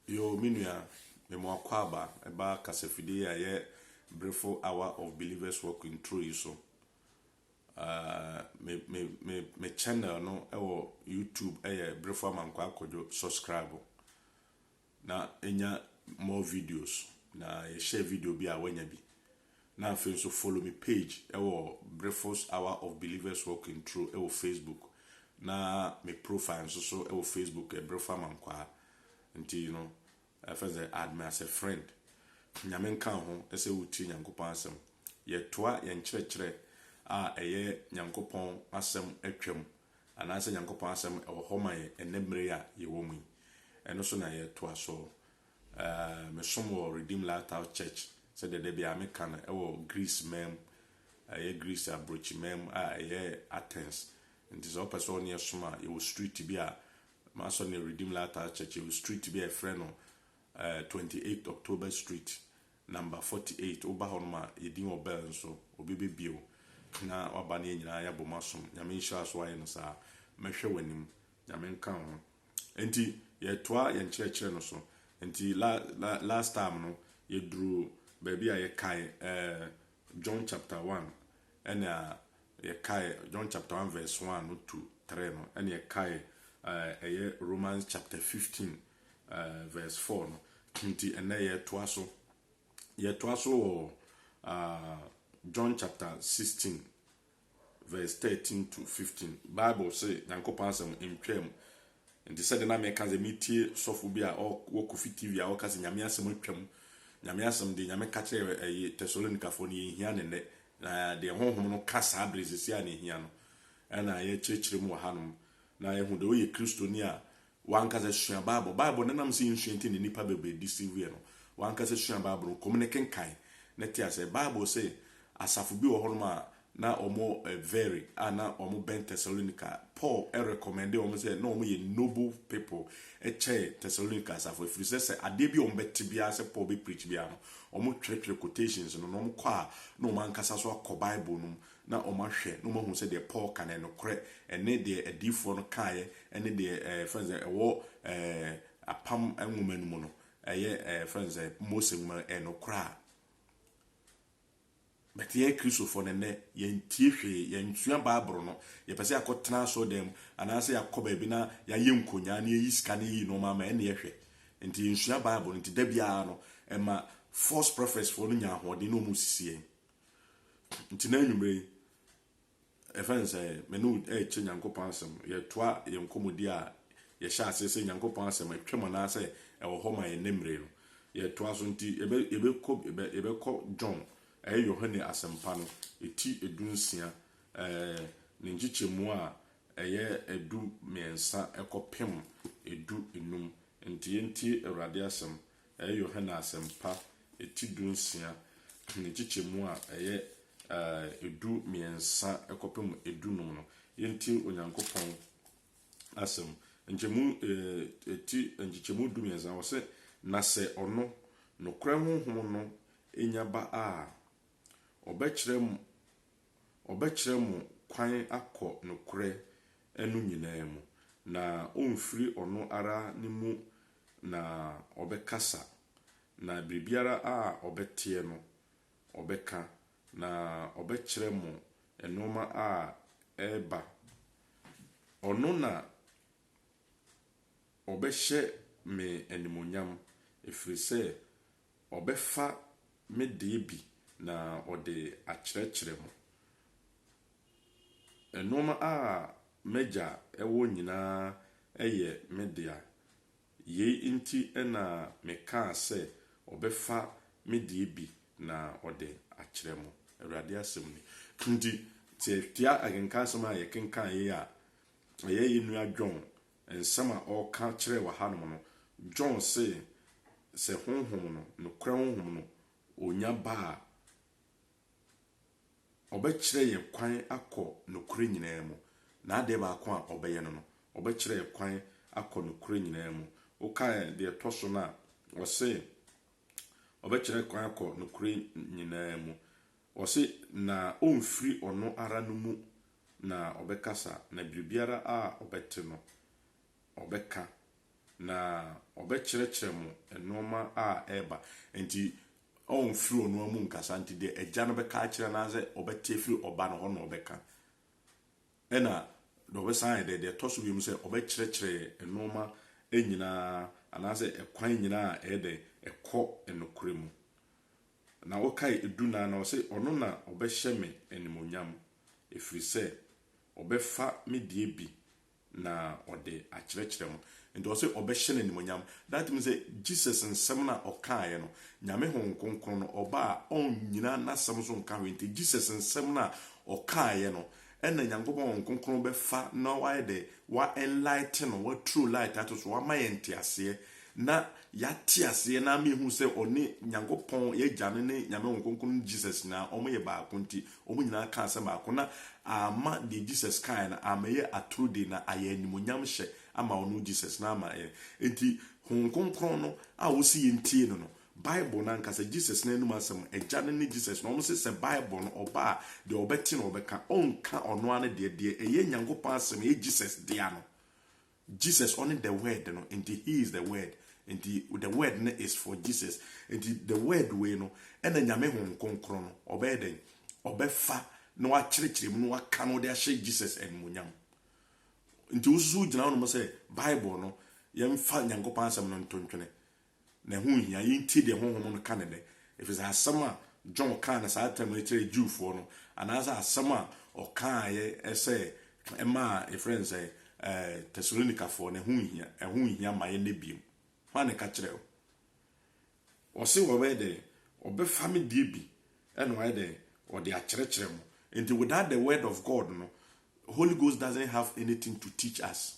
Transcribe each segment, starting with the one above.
Yoo me nua, me mo akwaaba ɛba kasafidie a yɛ brefo hour of believers walk in true yi so. Uh, me, me, me, me channel no ɛwɔ YouTube ɛyɛ brefo amankwa akɔdwo subscribe. Na nya more videos na yɛ share video bi a wanya bi. Na afei nso follow me page ɛwɔ Brefo's Hour of Believers Walking Through ɛwɔ Facebook na me profile nso so ɛwɔ Facebook ɛ Brefo Amankwaa nti you know ɛfɛn sɛ add me as a friend. Nyame nka wo ho ɛsɛ wo tie Nyankopɔn asɛm. Yɛ toa yɛ nkyerɛkyerɛ a ɛyɛ Nyankopɔn asɛm atwam. anaasɛ Nyankopɔn Asɛm wɔ hɔ ma yɛn ɛnnɛ mmere yi a yɛwɔ mu yi. Ɛno so na yɛtoa so. Ɛɛɛ, mesom wɔ Redeemed Lighthouse Church, sɛdeɛ da biara meka no, ɛwɔ Greece man mu, ɛyɛ Greece aburokyi man mu a ɛyɛ Athens. Nti sɛ wopɛ sɛ wo ne yɛn som a, yɛwɔ street bi a, m'asɔre no yɛ Redeemed Lighthouse Church, yɛwɔ street bi a yɛfrɛ no ɛɛɛ, 28th October Street, Number forty eight woba hɔ nom a yɛ din wɔ bell nso obi bɛ bio na waba na yɛ nyinaa yɛ abom asom nyame nhyira so ayɛ no saa mɛhwɛ w'anim nyame nka wo ho nti yɛ toa yɛ nkyerɛkyerɛ no so nti la la last time no yɛ duru baabi a yɛ kae eh, John chapter one ɛna yɛ kae John chapter one verse one no to three no ɛna yɛ kae eh, ɛyɛ Romans chapter fifteen eh, verse 4 no. Nti ɛnɛ yɛtoa so. Yɛtoa so wɔ uh, John chapter 16 verse 13 to 15. Bible se Nyankopɔn asɛm ntwam. Nti sɛde na meka sɛ metie sɔfo bi a wɔ Kofi TV a wɔka sɛ Nyame asɛm atwam. Nyame asɛm de Nyame ka kyerɛ ɛyɛ Tessalonikafo no yɛhia ne nnɛ. Na deɛ honhom no ka saa bere sisi a na ehia no ɛna yɛkyerɛkyerɛ mu wɔ hanom na yɛhu deɛ woyɛ Kristoni a W'ankasa sua Bible. Bible no, ɛnam sɛ yɛnsua nti na nnipa bebree deceive yɛn no. W'ankasa sua Bible no, kɔm ne kenkan na te aseɛ. Bible se asafo bi wɔ hɔnom a na wɔn very a na wɔn bɛn Thessalonica. Paul recommendee wɔn sɛ na wɔn yɛ noble people kyɛn Thessalonica asafo ɛfiri sɛ sɛ adeɛ bi a wɔn bɛte biara sɛ Paul bɛ preach biara no wɔn twerɛtwerɛ quotations no na wɔn kɔ a na wɔn ankasa nso akɔ Bible no mu na wɔahwɛ na wɔahu sɛ deɛ Paul ka no yɛ nokorɛ, ɛne deɛ adiyifoɔ no kaeɛ, ɛne deɛ yɛfrɛ no sɛ ɛwɔ apam nwoma no mu no, ɛyɛ yɛfrɛ no sɛ Mose nwoma no, ɛyɛ nokorɛ a. But yɛn Kristofoɔ no nnɛ, yɛntie hwee, yɛnsua Bible no, yɛpɛ sɛ yɛakɔtena asɔredan mu, anaasɛ yɛakɔ baabi na yɛayɛ nkonyaa na yɛyi sika na yɛyi nneɛma ama, ɛnneɛ hwɛ. Nti yɛnsua Bible no, nti da biara no, ɛma false prophets foɔ no nya ahoɔden na wɔsisi yɛn. Nti na anwummere yi, ɛfɛ ne sɛ me ne wo ɛrekyɛ Nyankopɔn asɛm. Yɛtoa yɛn nkɔmmɔdi a yɛhyɛ aseɛ sɛ Nyankopɔn asɛm atwam anaasɛ ɛwɔ hɔ ma yɛn ne mmere no. Yɛtoa so nti yɛbɛ yɛbɛkɔ yɛbɛ yɛbɛkɔ John ɛyɛ Yohane asɛmpa no ɛti edu nsia ɛɛ ne nkyekyɛmu a ɛyɛ ɛdu mmiɛnsa ɛkɔ pem ɛdu enum. Nti yɛntie Awurade asɛm Ɛyɛ Yohane Asɛmpa ti dunsia, ne nkyekyɛmu a ɛyɛ du mmiɛnsa kɔpem du num no. Yɛntie Onyankopɔn Asɛm. Nkyɛmu, ti, nkyekyɛmu du mmiɛnsa no, ɔse, Na sɛ ɔno, Nokorɛ Honhom no, nya ba a, ɔbɛkyerɛ mo, ɔbɛkyerɛ mo kwan akɔ nokorɛ no nyinaa mu, na ɔmfiri ɔno ara ne mu Na ɔbɛkasa, na biribiara a ɔbɛteɛ no, ɔbɛka, na ɔbɛkyerɛ mo nnoɔma a ɛreba. Ɔno na ɔbɛhyɛ me animuonyam, ɛfiri sɛ ɔbɛfa me deɛ bi na ɔde akyerɛkyerɛ mo. Nnoɔma a m'Agya wɔ nyinaa yɛ me dea. Yei nti na mekaa sɛ ɔbɛfa me deɛ bi na ɔde akyerɛ mo, Awurade asɛm nie. Nti sɛ yɛtia akenkansɛm a yɛkenkan yi a, ɛyɛ yɛn nua John nsɛm a ɔreka kyerɛ wɔ hanom no. John se sɛ Honhom no, nokorɛ Honhom no, ɔnya ba a, Ɔbɛkyerɛ yɛn kwan akɔ nokorɛ nyinaa mu. N'adeɛ baako a ɔbɛyɛ no no, ɔbɛkyerɛ yɛn kwan akɔ nokorɛ nyinaa mu. Wokae deɛ ɛtɔ so no a, ɔse ɔbɛkyerɛ yɛn kwan akɔ nokorɛ nyinaa mu. Ɔse, na ɔmfiri ɔno ara no mu na ɔbɛkasa, na biribiara a ɔbɛte no, ɔbɛka, na ɔbɛkyerɛkyerɛ mo nnoɔma a ɛreba. Enti ɔmfiri ɔno ara mu nkasa, nti deɛ Agya no bɛka akyerɛ anaasɛ ɔbɛte afiri Ɔba no hɔ na ɔbɛka. Ɛna deɛ ɔbɛsan ayɛ dɛ, deɛ ɛtɔ so mmienu sɛ, ɔbɛkyerɛkyerɛ nnoɔma nyina ara, anaasɛ ɛkwan nyina ara a ɛyɛ dɛn, ɛkɔ nokorɛ mu. Na wokae du nan no, ɔse, Ɔno na ɔbɛhyɛ me animuonyam, ɛfiri sɛ ɔbɛfa me deɛ bi na ɔde akyerɛkyerɛ mo. Nti ɔse ɔbɛhyɛ no animuonyam. That means sɛ Jesus nsɛm no a ɔkaeɛ no, Nyame Honhom Kronkron no ɔba a ɔnnyina n'asɛm so nka hwee. Nti Jesus nsɛm no a ɔkaeɛ no ɛna Nyankopɔn Honhom Kronkron bɛfa na wayɛ dɛ, wa enlighten no, wa throw light ato so, wama yɛn nteaseɛ na yɛate aseɛ na ama yɛhu sɛ ɔne Nyankopɔn, y'Agya no ne Nyame Honhom Kronkron no ne Jesus nyinaa wɔyɛ baako nti Wɔn nyinaa kaa sɛ mako, na amma deɛ Jesus kaeɛ no ammɛyɛ atoro de, na ayɛ animuonyamhyɛ ama ɔno Jesus, na ama yɛn. Enti Honhom Kronkron no a wɔse yɛntie no no, Bible no ankasa, Jesus no anom asɛm, Agya no ne Jesus no, wɔse sɛ Bible no ɔba a, deɛ ɔbɛte na ɔbɛka, ɔnka ɔno ara ne deɛ, deɛ ɛyɛ Nyankopɔn asɛm, ɛyɛ Jesus dea no, Jesus ɔne the word no nti he is the word nti the word no is for Jesus nti the word wei no ɛna Nyame Honhom Kronkron no ɔbɛyɛ dɛn ɔbɛfa na wakyerɛkyerɛ mu na waka no de ahyɛ Jesus animuonyam nti wosusu gyina hɔ nom sɛ Bible no yɛmfa Nyankopɔn asɛm no nto ntwene na ɛho nhia. Yentie deɛ Honhom no ka no nnɛ, ɛfiri sɛ asɛm a John kaa no saa tam yi kyerɛɛ Jewfoɔ no, anaasɛ asɛm a ɔkaeɛ sɛ ɛmaa, yɛfrɛ no sɛn, ɛɛ, Tesalonikafoɔ no, ɛho nhia, ɛho nhia mma yɛn nnɛ bio. Hwan na ɛka kyerɛɛ wo? Ɔse wɔbɛyɛ dɛn? Ɔbɛfa me deɛ bi na wayɛ dɛn? Ɔde akyerɛkyerɛ mo. Nti without the word of God no, Holy Ghost doesn't have anything to teach us.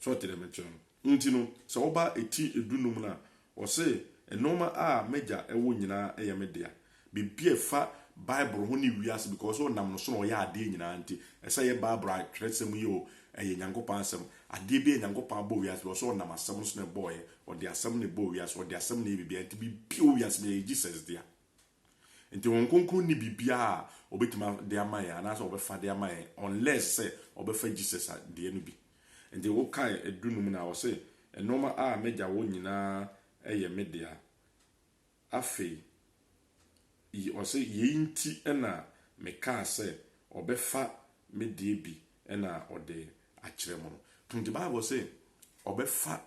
So ɔte dɛ me kyerɛ no? Ntsi no, sɛ wɔba etsi edunnum no a, ɔse, Nnoɔma a m'Egya wɔ nyina yɛ me dea. Biribi a ɛfa Bible ho ne wiase because sɛ ɔnam no so na ɔyɛ adeɛ nyinaa nti, ɛsɛ yɛ Bible atwerɛsɛm yi o, ɛyɛ Nyankopɔn asɛm. Adeɛ biara Nyankopɔn abɔ wiase because sɛ ɔnam asɛm no so na ɛbɔɔyɛ, ɔde asɛm na ɛbɔɔ wiase, ɔde asɛm na ɛyɛ biribiara nti biribi a ɛwɔ wiase biara ɛyɛ Jesus dea. Nti Honhom Kronkron nni biribiara a Ɔbɛtumi de ama yɛn anaasɛ Ɔbɛfa de ama yɛn unless sɛ Ɔbɛfa Jesus deɛ no bi. Nti wo kan du no mu no a ɔse, Nnoɔma a M'Agya wɔ nyinaa yɛ Me dea. Afei yi ɔse, Yei nti na Mekaa sɛ Ɔbɛfa Me deɛ bi na Ɔde akyerɛ mo no. Nti Bible se Ɔbɛfa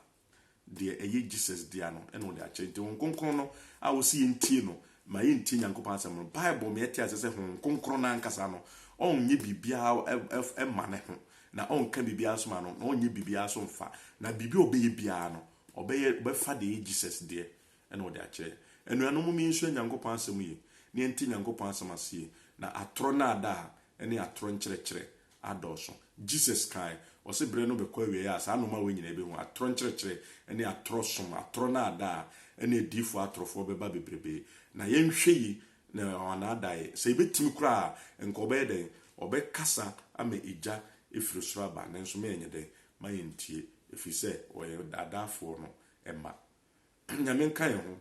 Deɛ ɛyɛ Jesus dea no na ɔde akyerɛ. Nti Honhom Kronkron no a ɔse yɛntie no ma yɛntie Nyankopɔn asɛm no, Bible ma yɛte aseɛ sɛ Honhom Kronkron no ankasa no, ɔnyɛ biribiara mma ne ho, na ɔnka biribiara nso ma no, na ɔnyɛ biribiara nso mfa. Na biribi a ɔbɛyɛ biara no, ɔbɛyɛ, ɔbɛfa deɛ ɛyɛ Jesus deɛ na ɔde akyerɛ. Anuanom mom yɛnsua Nyankopɔn asɛm yie, na yɛnte Nyankopɔn asɛm ase yie, na atorɔ naadaa ne atorɔ nkyerɛkyerɛ adɔɔso. Jesus kãe, ɔse ber no bɛkɔ ewiei a saa nnoɔma wei nyina bɛhu, atorɔ nkyerɛkyerɛ ne atorɔ som, atorɔ naadaa ne adiyifoɔ atorɔfoɔ bɛba bebrebee. Na yɛnhwɛ yi na ɔanaadae, sɛ yɛbɛtumi koraa a, nka ɔbɛyɛ dɛn? Ɔbɛkasa ama egya ɛfiri soro aba, nanso ma yɛnyɛ dɛn? Ma yɛntie, ɛfiri sɛ ɔyɛ ɔdaadaafoɔ no mma. Nyame nka yɛn ho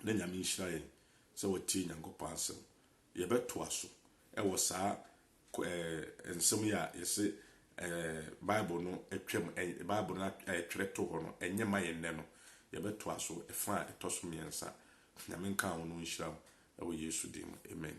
na Nyame nhyira yɛn sɛ watie Nyankopɔn asɛm Yɛbɛtoa so wɔ saa nsɛm yi a yɛse Bible no atwam, Bible no a yɛtwerɛ too hɔ no, ɛnyɛ ma yɛn nnɛ no. Yɛbɛtoa so fa a ɛtɔ so mmiɛnsa. Nyame nka wo na ɔnhyira wo wɔ Yesu din mu. Amen.